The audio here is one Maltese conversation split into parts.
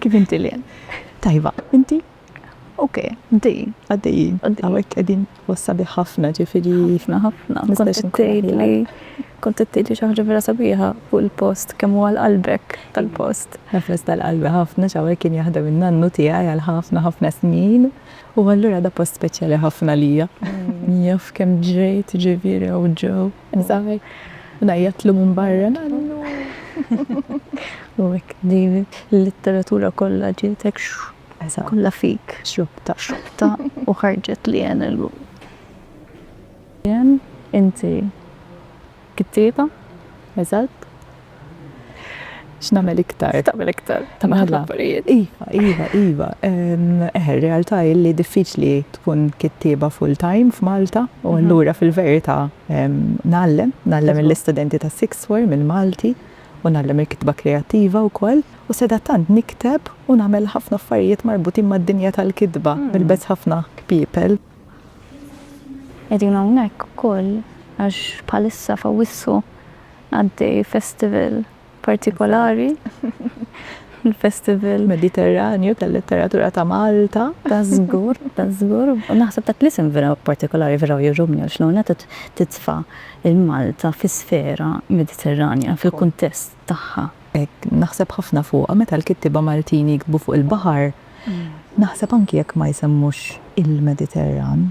Kif inti li Tajba, inti? Ok, dejjin, għaddejjin. Għawek għedin wassa ħafna ġifiri jifna ħafna. Kont t-tejli xaħġa vera sabiħa fuq il-post kemm għal qalbek tal-post. Nafres tal-qalbi ħafna ġawek kien jaħdem il-nannu tijaj għal ħafna ħafna snin. U għallura da post speċjali ħafna lija. Mm. Jaf kemm ġrejt ġifiri u ġew. Zaħi. Najjatlu minn barra nannu. U hekk din il-litteratura kollha ġiet hekk kollha fik. Xrubta, xrubta u ħarġet li għen illum. Inti kittieba? Eżatt. X'nagħmel iktar? X'tagħmel iktar? Ta' mela. mela. affarijiet. Iva, iva, iva. Eh, realtà li diffiċli tkun kittieba full time f'Malta u mhm. allura fil-verità nallem, nallem l-istudenti ta' sixth form il-Malti u nallem il-kitba kreattiva u koll u seda tant nikteb u nagħmel ħafna affarijiet marbutin mad-dinja tal-kitba hmm. mill-bez ħafna kpipel. Edin hawnhekk ukoll għax bħalissa fawissu Għaddej festival partikolari, il-Festival. Mediterranju tal-Letteratura ta' Malta. Ta' żgur, ta' żgur. U naħseb dak l-isem vera partikolari vera jogħġobni għax l-ewwel nett qed titfa' lil Malta fi sfera Mediterranja fil-kuntest tagħha. Hekk, naħseb ħafna fuqha meta l-kittieba Maltin jiktbu fuq il-baħar, naħseb anki jekk ma jsemmux il-Mediterran,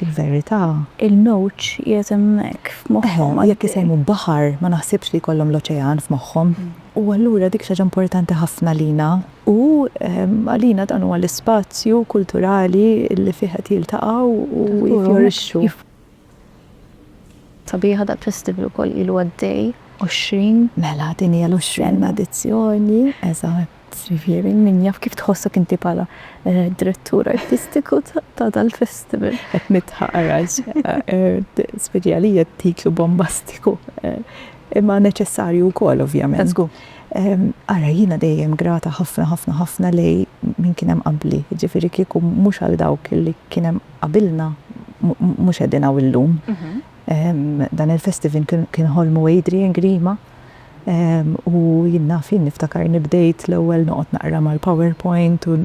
Fil-verità, il-mewġ qiegħed hemmhekk f'moħħhom għaddej. Jekk isejmu baħar, ma naħsibx li jkollhom l-oċean f'moħħhom. U allura dik xi ħaġa importanti ħafna għalina. U għalina dan huwa l-ispazju kulturali li fih qed jiltaqgħu u jiffjorixxu. Sabiħ dal-festival ukoll ilu għaddej 20. Mela, din hija l-20 edizzjoni, eżatt. Jiġifieri min jaf kif tħossok inti bħala direttur artistiku ta' dal-festival. Qed nidħaq għax speċi għalija t-titlu bombastiku imma neċessarju wkoll ovvjament. Żgur. Ara jiena dejjem grata ħafna ħafna ħafna lej min kien hemm qabli, jiġifieri kieku mhux għal dawk li kien hemm qabilna mhux qegħdin hawn illum. Dan il-festival kien ħolmu Adrian Grima. U jien naf jien niftakarni bdejt l-ewwel noqgħod naqra mal-PowerPoint u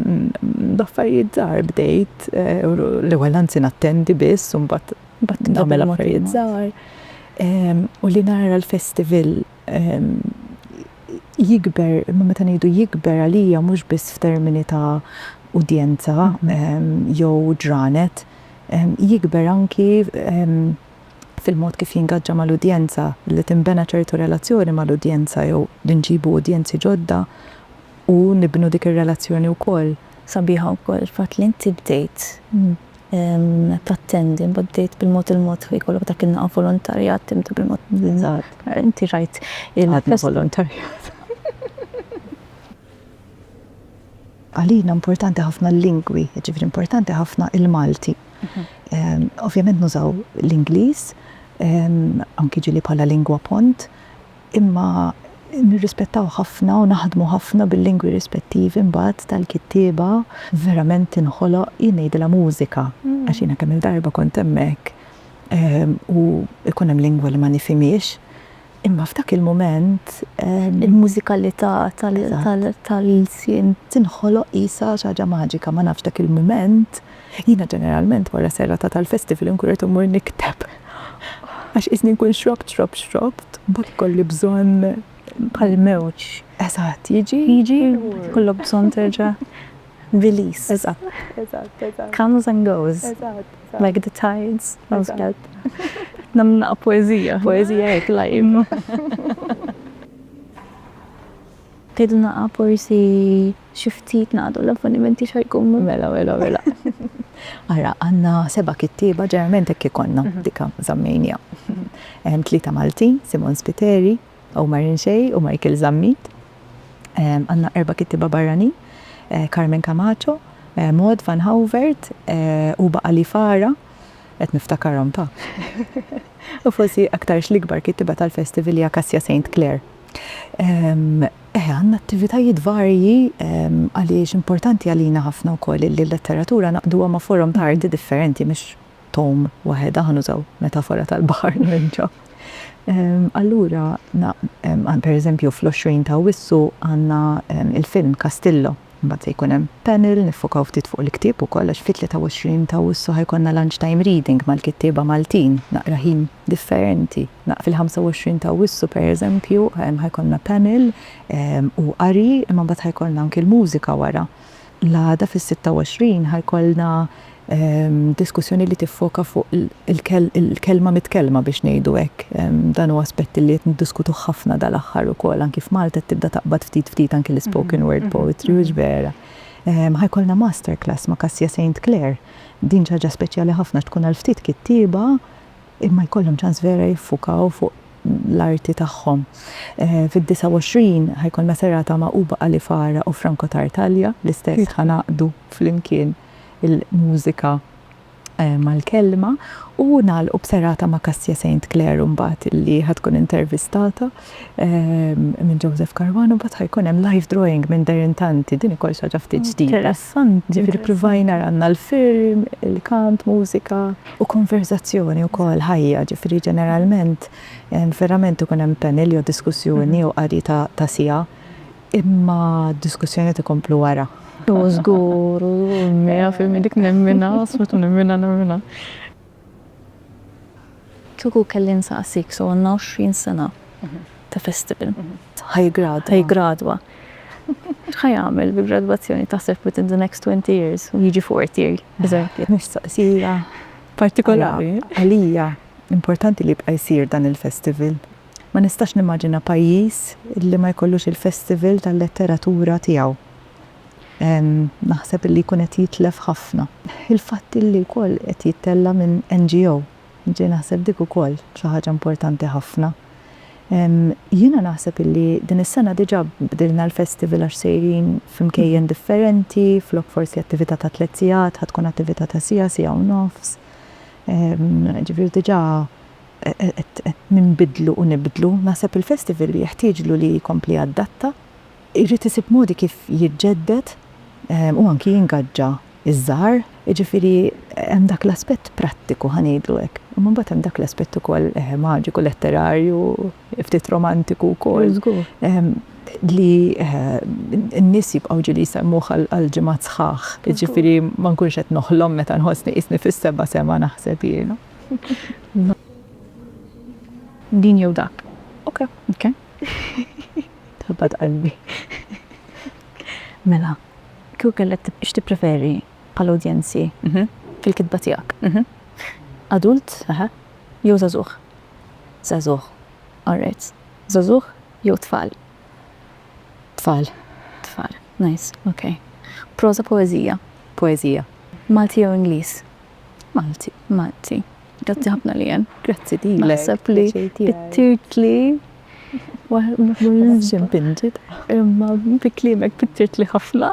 b'affarijiet żgħar bdejt. L-ewwel anzi nattendi biss u mbagħad nagħmel affarijiet żgħar. U li nara l-festival jikber, imma meta ngħidu jikber għalija mhux biss f'termini ta' udjenza jew ġranet, jikber anki fil-mod kif jingaġġa mal-udjenza, li tinbena ċertu relazzjoni mal-udjenza jew li nġibu udjenzi ġodda u nibnu dik ir-relazzjoni wkoll. Sabiħa wkoll il-fatt li inti bdejt tattendi, imbagħad bdejt bil-mod il-mod li jkollok dak il-laqgħa volontarjat tibda bil-mod. Eżatt. Inti rajt il-. Għadna volontarjat. Għalina importanti ħafna l-lingwi, jiġifieri importanti ħafna il-Malti. Ovvjament nużaw l-Ingliż, anki ġieli bħala lingwa pont, imma nirrispettaw ħafna u naħdmu ħafna bil-lingwi rispettivi mbagħad tal-kittieba. Verament tinħoloq, jien ngħidilha mużika, għax jiena kemm-il darba kont hemmhekk u jkun hemm lingwa li ma nifhimhiex, Imma f'dak il-mument il-mużikalità tal-ilsien tinħoloq qisha xi ħaġa maġika, ma nafx dak il-mument, jiena ġeneralment wara serata tal-festival inkun rrid immur nikteb għax qisni nkun xrobt xrobt xrobt mbagħad ikolli bżonn bħall-mewġ. Eżatt, jiġi, jiġi u jkollok bżonn terġa'. Release. Eżatt. Eżatt, eżatt. Comes and goes. Eżatt. Like the tides. Eżatt. Namna poezija. Poezija hekk live. Tidna forsi xi ftit nagħdu l-avvenimenti xajkun. Mela, mela, mela. Ara, għanna seba kittiba ġerment hekk ikollna mhm. dika zammejnija. Mhm. Hemm tlieta Maltin, Simon Spiteri, Omar Inxej u Michael Zammit. Għandna erba' kittieba barranin, Carmen Camacho, Maud Van Hauvert, Uba Ali Farah, qed niftakarhom ta! u forsi aktarx l-ikbar kittieba tal-festival hija Cassia Saint Clair. Eh, għandna attivitajiet varji għaliex importanti għalina ħafna wkoll li l-letteratura naqduha ma' forom ta' arti differenti mhux Tom waħedha, ħa nużaw metafora tal-baħar nerġa', allura pereżempju fl-20 ta' Awwissu għandna l-film Castillo, imbagħad se jkun hemm panel niffokaw ftit fuq il-ktieb ukoll għax fit-23 ta' Awwissu ħa jkollna lunch time reading mal-kittieba Maltin, naqra ħin differenti. Fil-25 ta' Awwissu pereżempju ħa jkollna panel u qari imma mbagħad ħa jkollna anki l-mużika wara. L-għada fis-26 ħa jkollna diskussjoni li tiffoka fuq il-kelma mitkellma biex ngħidu hekk. Dan hu aspett li qed niddiskutuh ħafna dal-aħħar ukoll. Anki f'Malta qed tibda taqbad ftit ftit anki l-ispoken word poetry, hux vera? Ħa jkollna masterclass ma' Kasia Saint Clair. Din xi ħaġa speċjali ħafna għax tkun għal ftit kittieba. imma jkollhom ċans vera jiffukaw fuq l-arti tagħhom. Fid-29 ħa jkollna serata magħquba Ali Fara u Franco Tartaglia, l-istess ħa ngħaqqdu flimkien il-mużika mal-kelma u nagħlqu b'serata ma' Kassia Saint Clair imbagħad li ħa tkun intervistata. minn Joseph Caruana, mbagħad ħa jkun hemm live drawing minn Darren Tanti, din ukoll xi ħaġa ftit ġdida. Interessanti. Ġifieri ppruvajna għandna l-film, il-kant, mużika u konverżazzjoni wkoll ħajja, ġifieri ġeneralment verament ikun hemm panel jew diskussjoni jew qari ta' siegħa, imma d-diskussjonijiet ikomplu wara. Żgur, mija fil-mija dik nemminha, assolutament nemminha, nemminha. Kieku kelli nsaqsik, so għandna 20 sena ta' festival. Ħajgradwa. Ħajgradwa. X'ħajagħmel bil-gradwazzjoni taħseb within the next 20 years u jiġi fourth year, eżempju? Mistoqsija partikolari. Għalija importanti li jibqa' jsir dan il-festival. Ma nistax nimmaġina pajjiż li ma jkollux il-festival tal-letteratura tiegħu. Naħseb li jkun qed jitlef ħafna. Il-fatt li wkoll qed jittella' minn NGO. Ġej naħseb dik ukoll xi ħaġa importanti ħafna. Jiena naħseb li din is-sena diġà bdilna l-festival għax sejrin f'imkejjen differenti, flok forsi attività ta' tliet sigħat ħa tkun attività ta' siegħa, siegħa u nofs. Ġifieri diġà qed ninbidlu u nibdlu. Naħseb il-festival jeħtieġlu li jkompli jadatta. Irid isib modi kif jiġġedded u anki jingaġġa ż-żgħar. Jiġifieri hemm dak l-aspett prattiku, ħa ngħidlu hekk, imma mbagħad hemm dak l-aspett ukoll maġiku, letterarju, ftit romantiku wkoll, li n-nies jibqgħu ġieli jsemmuh għal ġimgħat sħaħ. Jiġifieri ma nkunx qed noħlom meta nħossni qisni fis-seba' sema naħseb jiena. Din jew dak. Oke. Tħabbat qalbi. Mela, kieku kellek x'tippreferi bħala udjenzi fil-kitba tiegħek? Adult jew żagħżugħ? Żagħżugħ. All right. Żagħżugħ jew tfal? Tfal. Tfal. Nice. Ok. Proża, poeżija? Poeżija. Malti jew Ingliż? Malti. Malti. Grazzi ħafna li jen. Grazzi li jen. Naħseb li t-tirt li. Mafxin pinġit. Imma bi klimek t-tirt li ħafna.